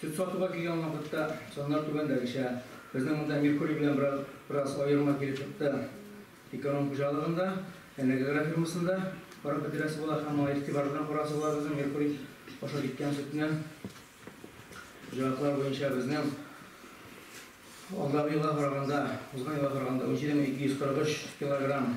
Сөт сатуга килгән вакытта саннар түбәндәгечә. Безнең монда Меркурий белән бераз аерма килеп чыкты. Эконом хуҗалыгында, Энергогра фирмасында карап бетерәсе була һәм моңа игътибар белән карарсы була безнең Меркурий аша киткән сөтне. Хуҗалыклар буенча безнең алдагы елга караганда, узган елга караганда 17243 килограмм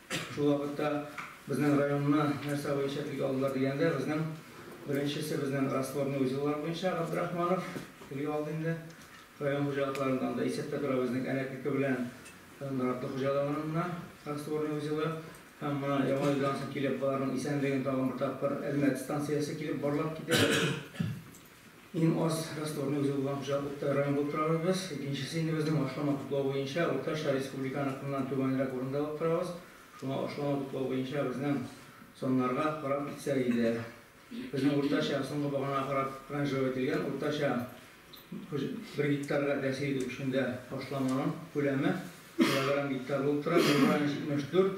Шул вакытта безнең районны нәрсә буенча тиги алдылар дигәндә, безнең беренчесе безнең растворный узеллар буенча Габдрахманов тиги алды инде. Район хуҗалыкларында анда исәптә тора безнең Әнәкеке белән Наратлы хуҗалыгынына растворный узелы һәм менә Яңа елдан соң килеп аларның исәнлеген тагын бер тапкыр Әлмәт станциясе килеп барлап китә. Иң аз ростовны үзе булган хуҗалыкта район булып торабыз. Икенчесе инде безнең ашлама туплау буенча уртача республиканыкыннан түбәнрәк урында булып торабыз. Шуңа ашлама туплау буенча безнең саннарга карап китсәк иде, безнең уртача, соңгы баганага карап ранжировать ителгән, уртача бер гектарга тәэсир итү көчендә ашламаның күләме килограмм гектар булып тора, бу район 74,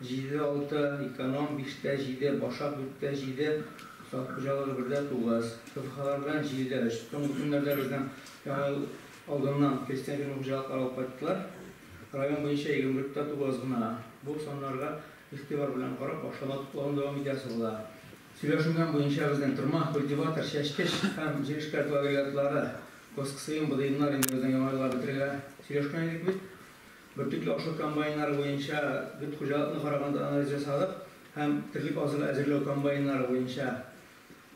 Җиде, алты, эконом, биштә, җиде, башак, дүрттә, җиде, сад хуҗалыгы, бердә, тугыз, КФХлардан, җилдә, өч. Соңгы көннәрдә безнең Яңа ел алдыннан крестьян фермер хуҗалыклары алып кайттылар. Район буенча егерме дүрттә тугыз гына. Бу саннарга игътибар белән карап, ашалма туплауны дәвам итәсе була. Сөйләшенгән буенча безнең Тырма, Культиватор, Чәчкеш һәм Җирешкә тулавилиятлары, Госксыем, Быдыемнар инде безнең Яңа елга бетерелә. Сөйләшкән идек бит. Бөртекле ашлык комбайннары буенча дүрт хуҗалыкны караганда анализ ясадык һәм терлек азыгы әзерләү комбайннары буенча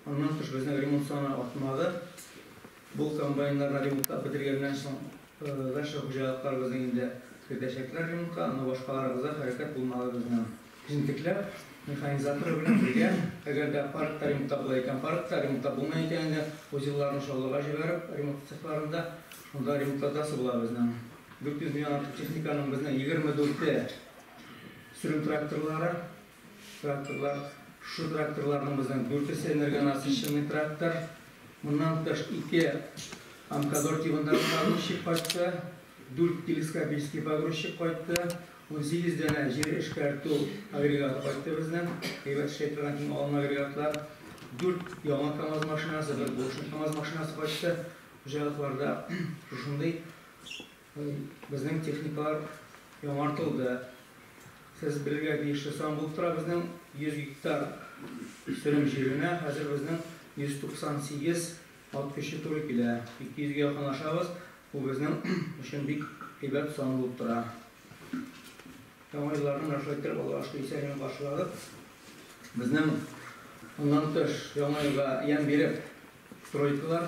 аннан тыш безнең ремонт саны артмады. Бу комбайннарны ремонтлап бетергәннән соң дальше хуҗалыкларыбызны инде кертәчәкләр ремонтка, но башкаларыбызда хәрәкәт булмады безнең. Җентекләп, механизаторы белән бергә, әгәр дә паркта ремонтта була икән, паркта, ремонтта булмый икән инде, узелларны Чаллыга җибәреп, ремонт цехларында, шунда ремонтлатасы була безнең. 400 меңнән артык техниканың безнең 24-е сөрем тракторлары, тракторлар. Шушы тракторларның безнең дүртесе энергонасыщенный трактор. Моннан тыш, ике Амкадор тибындагы погрузчик кайтты, дүрт телескопический погрузчик кайтты. Унсигез данә җир эшкәртү агрегаты кайтты безнең, әйбәт эшли торган иң алын агрегатлар. Дүрт яңа КАМАЗ машинасы, бер булышын КАМАЗ машинасы кайтты. Хуҗалыкларда шушындый безнең техникалар яңартылды. Сез белергә тиешле сан булып тора, безнең 100 гектар сөрем җиренә хәзер безнең 198 Ат көче туры килә. Ике йөзгә якын ашабыз. Бу безнең өчен бик әйбәт сан булып тора. Яңа елларны менә шулай иттереп Аллага шөкер исән имин каршыладык. Безнең моннан тыш яңа елга ямь биреп тройкалар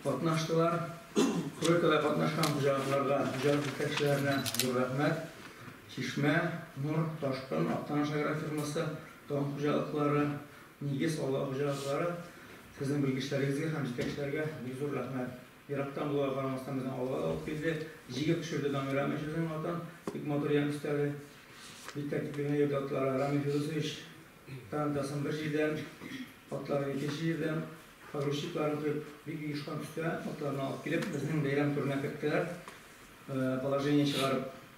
катнаштылар. Тройкада катнашкан хуҗалыкларга, хуҗалык җитәкчеләренә зур рәхмәт. Чишмә, Нур, Ташкын, Актаныш агрофирмасы, Таң хуҗалыклары, Нигез, Алга хуҗалыклары. Сезнең белгечләрегезгә һәм җитәкчеләргә бик зур рәхмәт. Ерактан булуга карамастан безне алга алып килде. Җигеп төшерде Дамир Рамил сүзенең атын. Бик матур ямь өстәде. Бик тәртипле генә йөрде атлары. Рамил Фирдусович тарантасын бер җирдән, атларын икенче җирдән, погрузчикларын коеп, бик оешкан төстә атларны алып килеп, безнең бәйрәм түренә керттеләр, положение чыгарып.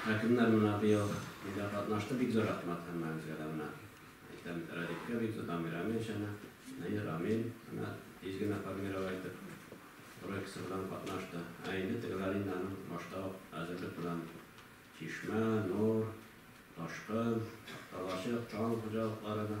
Хакимнар менә быел нидә катнашты, бик зур рәхмәт һәммәгезгә дә менә әйтәм бит Радикка бик зур Дамир Амин чана Наир Амин менә тиз генә формировать итеп Урай КСРОдан катнашты ә инде тегеләр инде аның башта ук әзерлек белән Чишмә, Нур, Ташкын, Такталачык, Чаллы хуҗалыкларына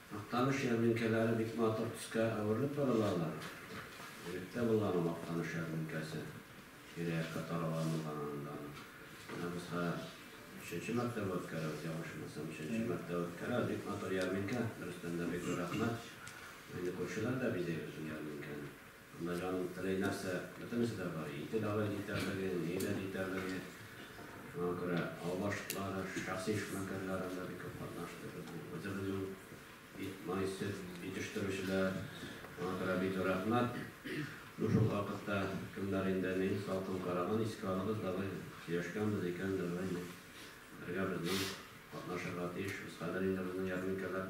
Актаныш ярминкәләре бик матур төскә әверелеп баралалар. Элек тә булган ул Актаныш ярминкәсе. Тирә-якка таралганылган аның даны. Менә без хәзер өченче мәртәбә үткәрәбез, ялгышмасам, өченче мәртәбә үткәрәбез. Бик матур ярминкә, дөрестән дә бик зур рәхмәт. Инде күршеләр дә бизәйбез ул ярминкәне. Монда җаның теләй нәрсә, бөтенесе дә бар. Ите дәва җитәрлеге, ни дә җитәрлеге. Шуңа күрә ау башкалары, шәхси эшмәкәрләрем дә бик күп катнашты. Безнең үзебезнең ит, май, сөт җитештерүчеләр. Шуңа күрә бик зур рәхмәт. Ну, шул вакытта кемнәр инде ни салкын караган, искә алыгыз, давай, сөйләшкәнбез икән, давай, бергә безнең катнашырга тиешбез. Хәзер инде безнең ярминкәләр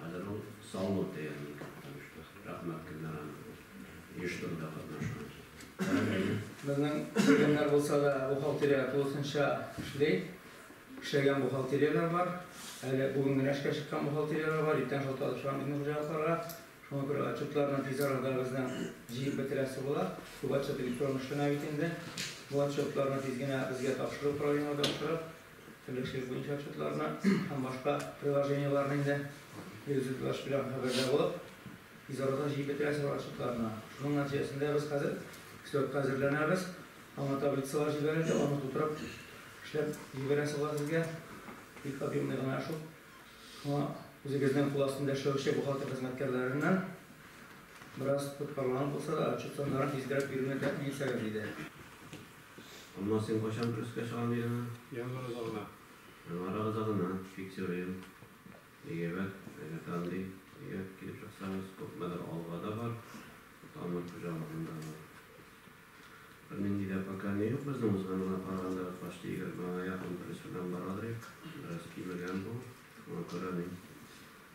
Аданың Салло театрында таныштык. Рәхмәт Гөлнара ханым, оештыруда катнашкан Карагәйне. Безнең кемнәр булса да бухгалтерия тулысынча эшли. Эшләгән бухгалтерияләр бар. Әле бүген генә эшкә чыккан бухгалтерияләр бар. Иртән шалтыратып чыгам безнең хуҗалыкларга. Шуңа күрә отчетларны тиз арада безнең җыеп бетерәсе була. Күп отчет электрон эшләнә бит инде. Бу отчетларны тиз генә безгә тапшырып, управлениегә тапшырып, Теләчек буенча отчетларны һәм башка приложениеларны инде Юзеплаш белән хәбәрдә булып, тиз арада җыеп бетерәсез ул отчетларны. Шуның нәтиҗәсендә без хәзер слетка әзерләнәбез. Аңа таблицалар җибәрелде, аны тутырып эшләп җибәрәсе була сезгә. Бик объемный гына эш ул. Шуңа үзегезнең кул астында эшләүче бухгалтер хезмәткәрләреннән бераз тоткарланып булса да отчет саннарын тизрәк бирүне тәэмин итсәгез иде. Анна, син кайчан пресска чыгам дидең аны? Январь азагына. Январь азагына, фиксируем. Әйбәт, әйбәт андый. Әйбәт килеп чыксагыз, күпмедер алга да бар. Тамыр хуҗалыгында бар. Бернинди дә пока ни юк безнең узганга караганда почти егермегә якын пресс белән барадыр ик. Бераз кимегән бу, шуңа күрә мин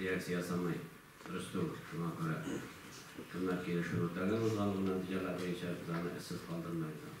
Реакция ясамый Рөстүм, шуңа күрә кемнәр килешүне үтәгән узган ул нәтиҗәләр буенча без аны эзсез калдырмыйбыз.